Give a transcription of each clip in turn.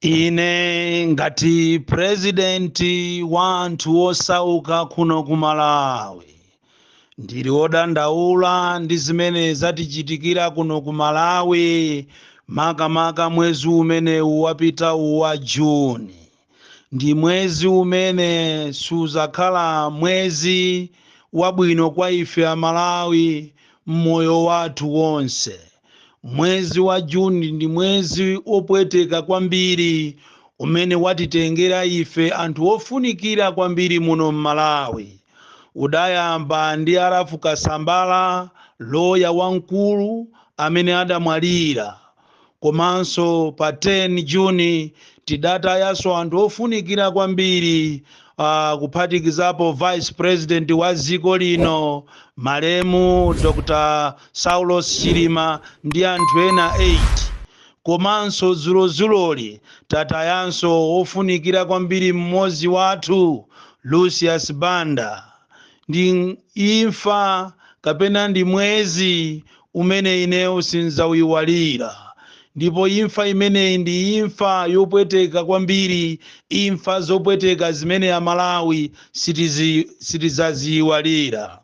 ine ngati purezidenti wa anthu osauka kuno ku malawi ndili odandaula ndi zimene zatichitikira kuno ku malawi makamaka mwezi umenewu wapitawu wa juni ndi mwezi umene siudzakhala mwezi wabwino kwa ife amalawi mmoyo wathu wonse mwezi wa juni ndi mwezi opweteka kwambiri umene watitengera ife anthu ofunikira kwambiri muno mmalawi udayamba ndi arafu kasambala loya wamkulu amene adamwalira komanso pa 10 juni tidatayanso anthu ofunikira kwambiri uh, kuphatikizapo vice president wa dziko lino malemu dr saulos chilima ndi anthu ena 8 komanso dzulodzuloli tatayanso ofunikira kwambiri mmodzi wathu lucius banda ndi imfa kapena ndi mwezi umene ineyo sindzauiwalira ndipo imfa imeneyi ndi imfa yopweteka kwambiri imfa zopweteka zimene amalawi sitizi sitizaziiwalira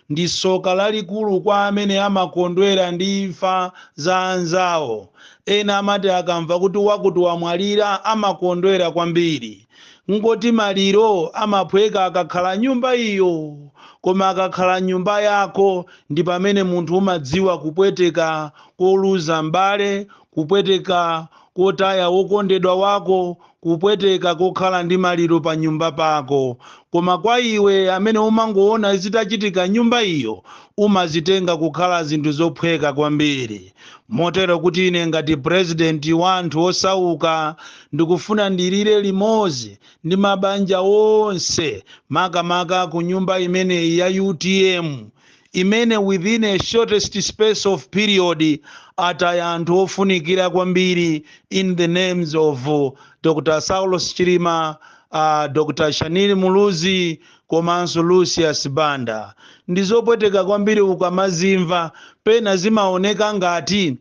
ndi soka lalikulu kwa amene amakondwera ndi imfa za anzawo ena amati akamva kuti wakuti wamwalira amakondwera kwambiri N'goti maliro amaphweka akakhala nyumba iyo, koma akakhala mnyumba yako ndi pamene munthu umadziwa kupweteka koluza m'bale, kupweteka kotaya wokondedwa wako, kupweteka kokhala ndi maliro pa nyumba pako. Koma kwa iwe amene umangoona zitachitika mnyumba iyo, umazitenga kukhala zinthu zophweka kwambiri. motero kuti ine ngati purezidenti wa anthu osauka ndikufuna ndilire limodzi ndi mabanja onse makamaka ku nyumba imeneyi ya utm imene within a shortest space of period ataya anthu ofunikira kwambiri in the names of dr saulos chilima uh, dr shanil muluzi Komanso Lucius Banda, ndizopweteka kwambiri ukamazimva, pena zimaoneka ngati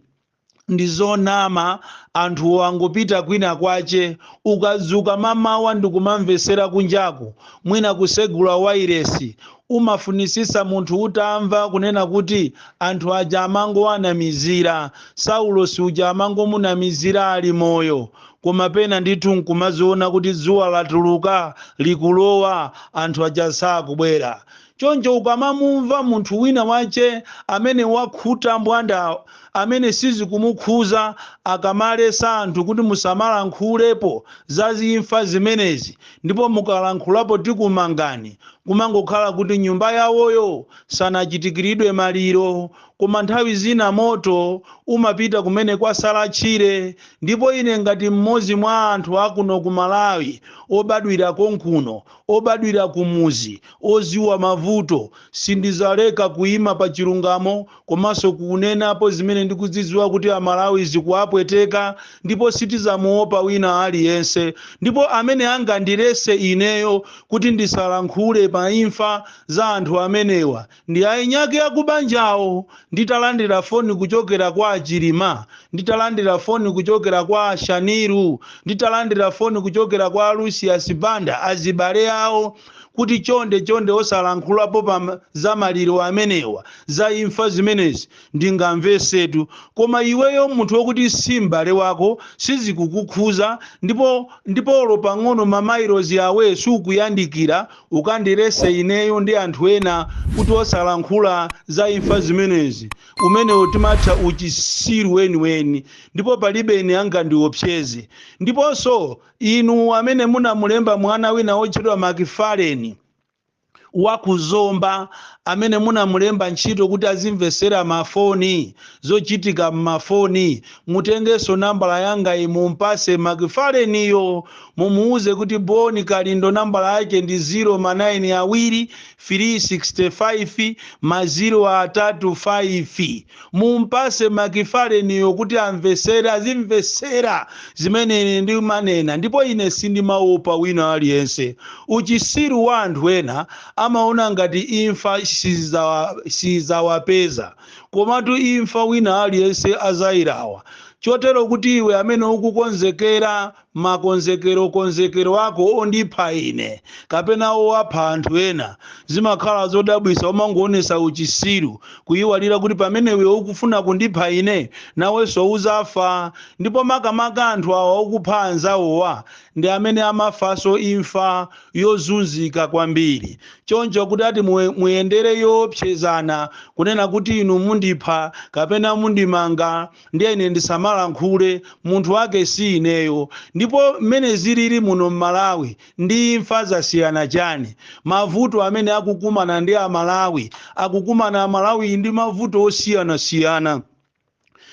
ndizonama anthuwo angopita kwina kwache, ukadzuka mamawa n'kumamvesera kunjaku, mwina kusegula wailesi, umafunisisa munthu utamva kunena kuti anthu aja amangowanamizira, Saulosi uja amangomunamizira ali moyo, Koma pena ndithu n'kumaziona kuti dzuwa latuluka, likulowa, anthu aja sakubwera. Choncho ukamamumva munthu wina wache amene wakhuta mbwanda amene sizikumukhuza akamaletsa anthu kuti musamalankhulepo za imfa zimenezi ndipo mukalankhulapo tikumangani, kumangokhala kuti m'nyumba yawoyo sanachitikiridwe maliro Koma nthawi zina moto umapita kumene kwasala tchire ndipo ine ngati m'modzi mwa anthu akuno ku Malawi obadwira konkuno, obadwira kumudzi, odziwa mavuto, sindidzaleka kuima pa chilungamo komanso kunenapo zimene ndikuzidziwa kuti a Malawi zikuwapweteka ndipo sitidzamuopa wina aliyense ndipo amene angandiletse ineyo kuti ndisalankhule pa imfa za anthu amenewa Ndi eni ake akubanjawo nditalandira foni kuchokera kwa a Chilima, nditalandira foni kuchokera kwa a Shanil, nditalandira foni kuchokera kwa a Lucius Banda azibale awo kuti chonde chonde osalankhulapo pa za maliro amenewa, za imfa zimenezi ndingamvetsetu koma iweyo munthu wokuti si m'bale wako sizikukukhuza ndipo olo pang'ono ma mailozi away sukuyandikira. Ukandiletse ineyo ndi anthu ena kuti osalankhula za imfa zimenezi, umenewo timatcha uchitsiru weniweni ndipo palibe ine angandiopseze. Ndiponso, inu amene munamulemba mwana wina wotchedwa Macfarlen wa ku Zomba, amene munamulemba ntchito kuti azimvetsera mafoni, zochitika m'mafoni, mutengenso nambala yangayi mum'patse Macfarlen'yo Mumuuze kuti Bon Kalindo nambala yake ndi 0 ma 9 awiri, firii 65, ma 0 atatu 5. Mumpase Macfarlen'yo kuti amvetsere, azimvetsera zimene ine ndimanena ndipo ine sindimaopa wina aliyense. Uchisiru wa anthu ena amaona ngati imfa siidzawapeza komatu imfa wina aliyense adzailawa chotero kuti iwe amene ukukonzekera Makonzekerokonzekero ako ondipha ine kapena owapha anthu ena zimakhala zodabwisa umangoonesa uchisiru kuiwala kuti pamene iwe ukufuna kundipha ine naweso uzafa ndipo makamaka anthu awa okupha anzawowa ndi amene amafaso imfa yozunzika kwambiri choncho kuti ati muyendere yoopsezana kunena kuti inu mundipha kapena mundimanga ndiye ine ndisamalankhule munthu wake si ineyo ndipo mmene zilili muno mmalawi ndi imfa zasiyana chani mavuto amene akukumana ndi amalawi akukumana amalawi ndi mavuto osiyanasiyana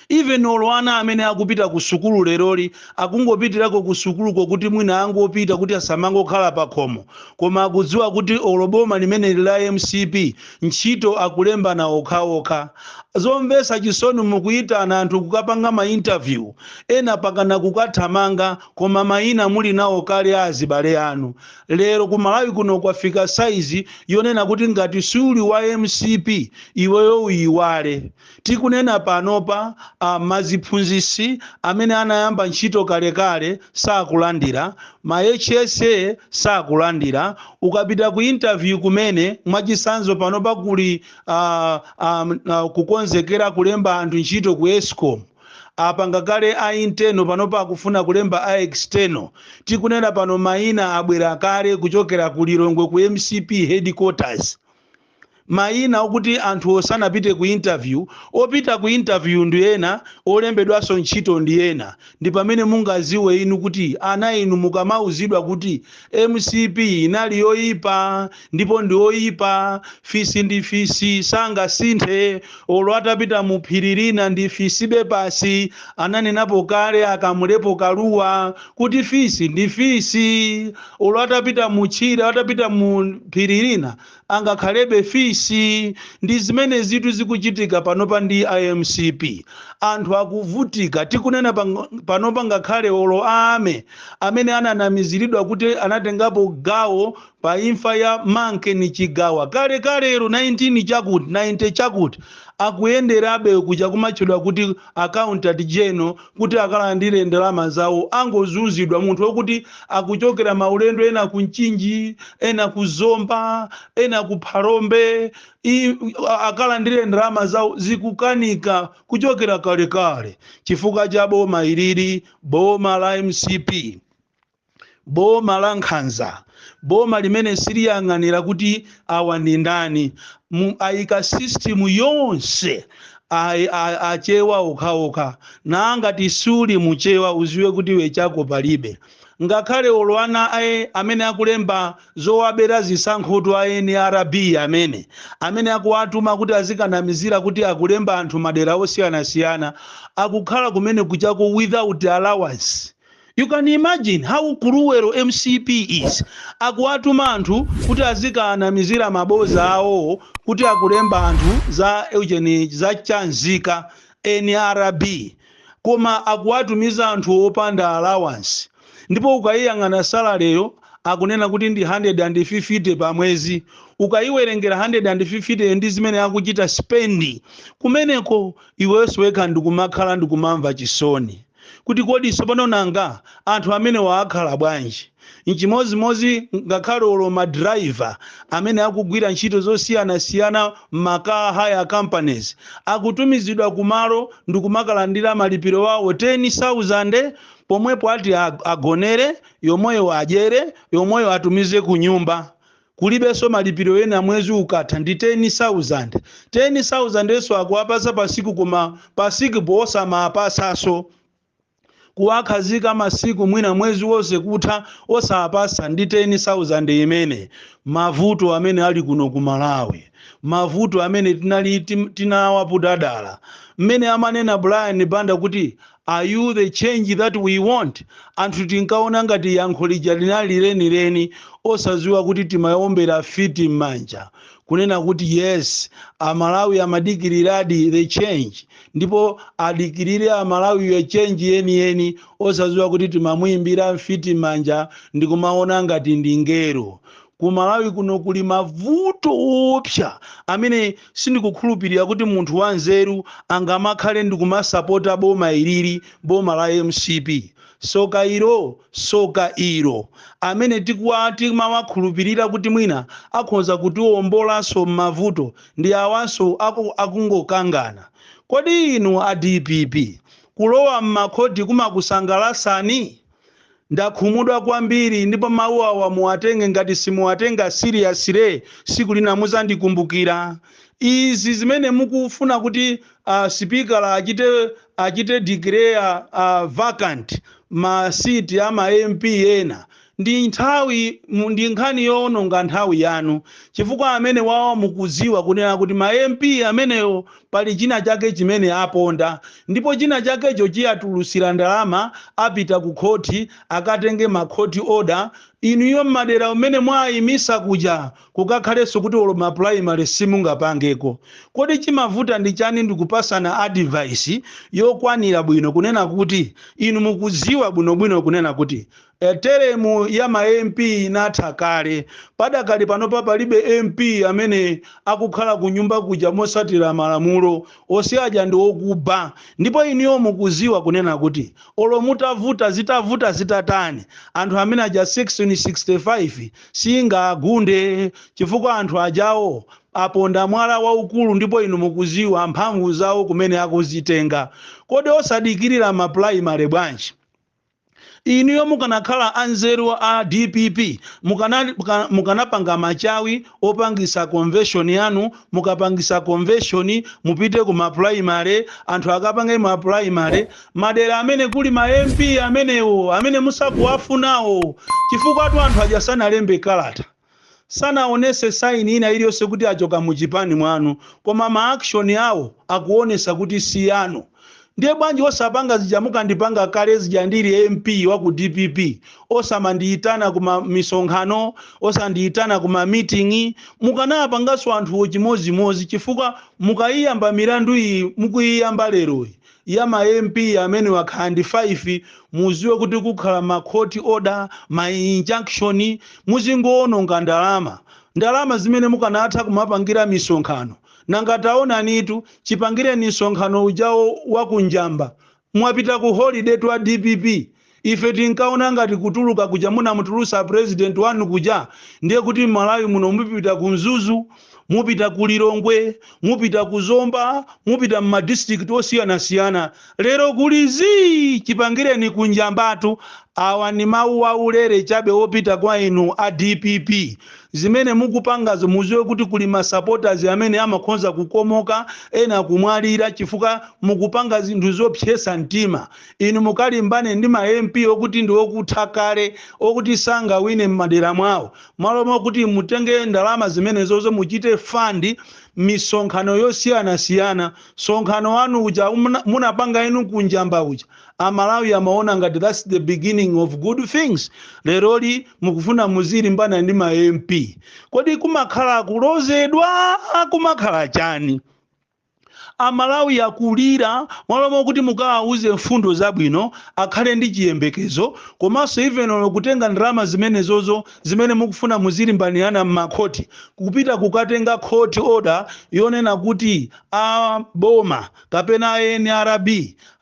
even olo ana amene akupita ku sukulu leroli akungopitirako ku sukuluko kuti mwina angopita kuti asamangokhala pakhomo koma akudziwa kuti olo boma limeneli la mcp ntchito akulembana okhaokha. Zomvetsa chisoni mukuyitana anthu kukapanga ma interview ena pakana kukathamanga koma mayina muli nawo kale a azibale anu. Lero ku Malawi kuno kwafika size yonena kuti ngati siuli wa mcp iweyo uyiwale. Tikunena panopa maziphunzitsi amene anayamba ntchito kalekale sakulandira, ma HSA sakulandira, ukapita ku interview kumene mwachitsanzo panopa kuli a a a kukonzekera kulemba anthu ntchito ku escom, apanga kale a internal panopa akufuna kulemba a external, tikunena pano maina abwera kale kuchokera ku Lilongwe ku mcp headquarters. mayina okuti anthuwo sanapite ku interview, opita ku interview ndi ena, olembedwaso ntchito ndi ena, ndipamene mungaziwe inu kuti ana inu mukamauzidwa kuti mcp inali yoyipa ndipo ndi oyipa, fisi ndi fisi sangasinthe olo atapita mu phiri lina ndi fisibe basi, ananenapo kale a Kamulepo Kaluwa kuti fisi ndi fisi olo atapita mu tchire, atapita mu phiri lina. amakhalabe fisi ndizimenezitu zikuchitika panopa ndi mcp anthu akuvutika tikunena pang- panopa ngakhale olo ame amene ananamiziridwa kuti anatengapo gawo pa imfa ya Mkandawire Chigawa kale kalero 19 chakuti 90 chakuti akuyenderabe kuja kumatchedwa kuti Accountant General kuti akalandire ndalama zawo akungozunzidwa munthu okuti akuchokera maulendo ena ku Mchinji ena ku Zomba ena ku Phalombe i- a- akalandire ndalama zawo zikukanika kuchokera kalekale chifukwa cha boma ilili boma la mcp boma lankhanza boma limene siliyang'anira kuti awa ndi ndani Mu- ayika system yonse ayi- a- achewa okhaokha ngati suli muchewa uziwe kuti iwe chako palibe ngakhale olo ana aja amene akulemba zowabera zisankhoto a nrb amene amene akuwatuma kuti azikanamizira kuti akulemba anthu madera osiyanasiyana akukhala kumene kuchako without allowance You can imagine how cruel mcp is, akuwatuma anthu kuti azikaanamizira mabosi awo kuti akulemba anthu za ujeni za cha nzika, nrb, koma akuwatumiza anthu opanda allowance ndipo ukaiyang'ana salary yo akunena kuti ndi 150 pa mwezi, ukaiwerengera 150 yo ndi zimene akuchita spend kumeneko iweyonso wekha ndikumakhala ndikumamva chisoni. kuti kodi tsopano nanga anthu amenewa akhala bwanji? N'chimodzimodzi ngakhale olo ma driver amene akugwira ntchito zosiyanasiyana m'ma car hire companies, akutumizidwa kumalo ndikumakalandira malipiro awo 10,000 pomwepo ati agonere, yomweyo adyere, yomweyo atumize kunyumba. Kulibenso malipiro ena mwezi ukatha ndi 10,000. 10,000 nso akuwapatsa pa siku koma pa sikupo wosamawapatsanso. Kuwakhazika masiku mwina mwezi wonse kutha osawapatsa ndi 10,000 imene. Mavuto amene ali kuno ku Malawi. Mavuto amene tinali, tinawaputa dala. Mmene amanena Brian Banda kuti Are you the change that we want? Anthu tinkaona ngati yankho lija linali lenileni osadziwa kuti timaombera mfiti m'manja kunena kuti yes amalawi amadikiliradi the change ndipo adikirire amalawiyi change yeniyeni osadziwa kuti timamuimbira mfiti m'manja ndikumaona ngati m'ngelo ku malawi kuno kuli mavuto oopsa amene sindikukhulupirira kuti munthu wanzeru angamakhale ndikumasapota boma ilili boma la mcp soka ilo soka ilo amene tikuwa timawakhulupirira kuti mwina akhonza kutiwombolanso m'mavuto ndi awanso aku- akungokangana kodi inu a dpp kulowa m'makhoti kumakusangalasani Ndakhumudwa kwambiri ndipo mau awa muwatenge ngati simuwatenga seriously siku lina muzandikumbukira. Izi zimene mukufuna kuti a sipika achite achite declare vacant ma seat a ma MP ena ndi nthawi mu ndi nkhani yoononga nthawi yanu chifukwa amenewawa mukudziwa kunena kuti ma MP amenewa Pali chinachake chimene aponda, ndipo chinachakecho chiwatulusira ndalama, apita ku khothi, akatenge ma court order, inuyo mmadera mmene mwaayimisa kuja kukakhalenso kuti olo ma primary simungapangeko. Kodi chimavuta ndi chani ndikupasana advice yokwanira bwino kunena kuti inu mukudziwa bwinobwino kunena kuti Temu ya ma MP inatha kale. Padakali panopa palibe MP amene akukhala kunyumba kuja mosatira malamulo. Ose aja ndi okuba. Ndipo inuyo mukuziwa kunena kuti olo mutavuta zitavuta zitatani anthu amene aja section 65 siingawagunde chifukwa anthu ajawo aponda mwala waukulu ndipo inu mukuziwa mphamvu zawo kumene akuzitenga. Kodi osadikilira ma primary bwanji? Inuyo mukanakhala a nzeru a dpp mukana, mukanapanga machawi opangisa convention yanu mukapangisa convention mupite ku ma primary anthu akapange ma primary madera amene kuli ma MP amenewo amene musakuwafunawo chifukwatu anthu aja sanalembe kalata Sanaonese sign ina iliyose kuti achoka muchipani mwanu koma ma action awo akuonesa kuti sianu ndiye bwanji osapanga zija mukandipanga kale zija ndili MP wa ku dpp osamandiitana kuma misonkhano osandiitana kuma meeting mukanawapangaso anthuwo chimozimozi chifukwa mukaiyamba milandu iyi mukuiyamba leroyi ya ma MP amenewo akhala ndi 5 muziwe kuti kukhala ma court order, ma injunction muzingoononga ndalama, ndalama zimene mukanatha kumapangira misonkhano nanga taonanitu chipangireni msonkhano ujawo wa ku Njamba mwapita ku holiday tu a dpp. Ife tinkaona ngati kutuluka kuja munamutulusa president wanu kuja ndiye kuti m'Malawi muno mupita ku Mzuzu, mupita ku Lilongwe, mupita ku Zomba, mupita m'ma district osiyanasiyana. Lero kuli zii! Chipangireni ku Njambatu. Awa ndi mawu aulere chabe opita kwa inu a dpp. Zimene mukupangazo muziwe kuti kuli ma supporters amene amakhoza kukomoka, ena kumwalira chifukwa mukupanga zinthu zopsesa mtima. Inu mukalimbane ndi ma MP okuti ndi okutha kale, okuti sangawine m'madera mwawo, malo mokuti mutenge ndalama zimenezozo muchite fund misonkhano yosiyanasiyana. Msonkhano wanu uja munapanga inu ku Njamba uja, a Malawi amaona ngati that's the beginning of good things. Leroli mukufuna muzilimbana ndi ma MP. Kodi kumakhala kulozedwa? Kumakhala chani? A Malawi akulira, mwalo mokuti mukawauze mfundo zabwino, akhale ndi chiyembekezo, komanso even olo kutenga ndalama zimenezozo zimene mukufuna muzilimbanirana mma court, kupita kukatenga court order yonena kuti a boma kapena a nrb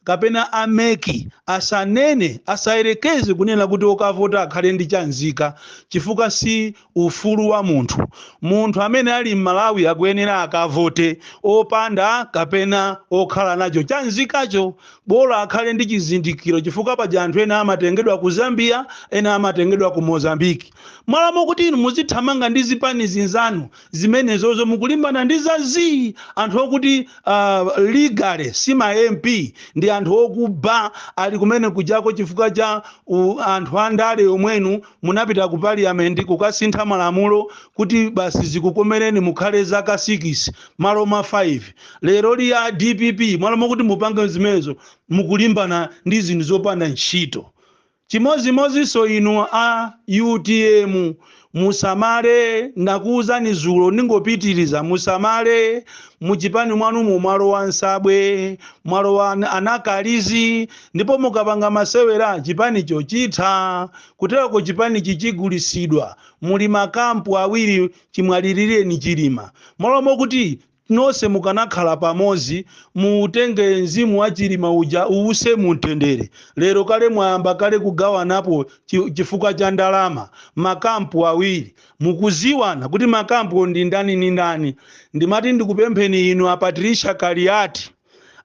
kapena a mec asanene, asayerekeze kunena kuti okavota akhale ndi cha nzika chifukwa si ufulu wa munthu. Munthu amene ali Mmalawi akuyenera akavote opanda kapena okhala nacho cha nzikacho bola akhale ndi chizindikiro chifukwa paja anthu ena amatengedwa ku Zambia ena amatengedwa ku Mozambique. Mmalo mokuti inu muzithamanga ndi zipani zanu zimenezozo mukulimbana ndi za zii anthu okuti uh, illegally si ma MP ndi anthu okuba ali kumene kujako chifukwa cha uh, anthu andale omwenu munapita ku parliament kukasintha malamulo kuti basi zikukomereni mukhale zaka 6 mmalo mwa 5 lero li a dpp mmalo mokuti mupange zimenezo mukulimbana ndi zinthu zopanda ntchito chimozimozinso inu a utm musamale ndakuwuzani zulo ndingopitiriza musamale muchipani mwanumo mwalowa nsabwe mwalowa anankalizi ndipo mukapanga masewera chipanicho chitha. Kuteroko chipanichi chigulisidwa. Muli ma camp awiri chimwalilireni Chilima. Mmalo mokuti nonse mukanakhala pamozi muutenge mzimu wa Chilima uja uwuse mu mtendere, lero kale mwayamba kale kugawanapo chifukwa cha ndalama. Ma camp awiri. Mukuziwana kuti ma camp-wo ndi ndani ndi ndani. Ndimati ndikupempheni inu a Patricia Kaliati.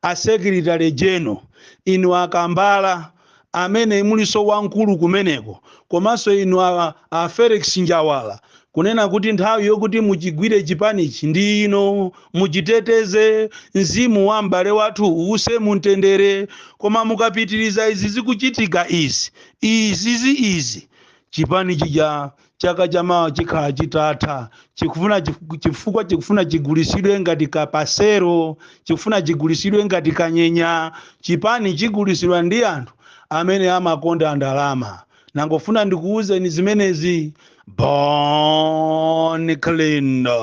a secretary general, inu a Kambala amene mulinso wamkulu kumeneko komanso inu a, a Felix Njawala kunena kuti nthawi yokuti muchigwire chipanichi ndi ino, muchiteteze mzimu wa m'bale wathu uwuse mu mtendere. Koma mukapitiriza izi zikuchitika izi izizi izi chipani chija chaka chamawa chikhala chitatha chikufuna chifukwa chikufuna chigulisidwe ngati kapasero chikufuna chigulisidwe ngati kanyenya chipani chigulisidwa ndi anthu amene amakonda ndalama nangofuna ndikuwuzeni zimenezi bon kalindo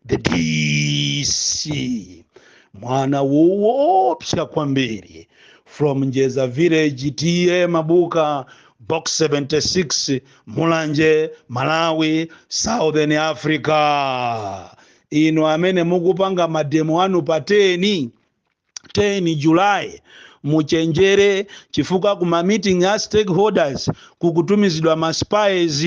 the dc mwana woopsa kwambiri from njeza village ta mabuka box 76 mulanje malawi southern africa inu amene mukupanga mademo anu pa 10 10 July muchenjere chifukwa ku ma meeting a stakeholders kukutumizidwa ma spies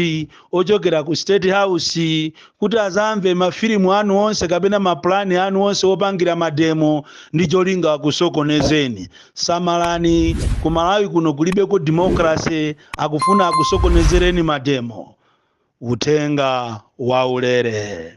ochokera ku state house kuti azamve mafilimu anu onse kapena mapulani anu onse opangira mademo ndi cholinga akusokonezeni samalani ku malawi kuno kulibeko democracy akufuna akusokonezereni mademo uthenga waulere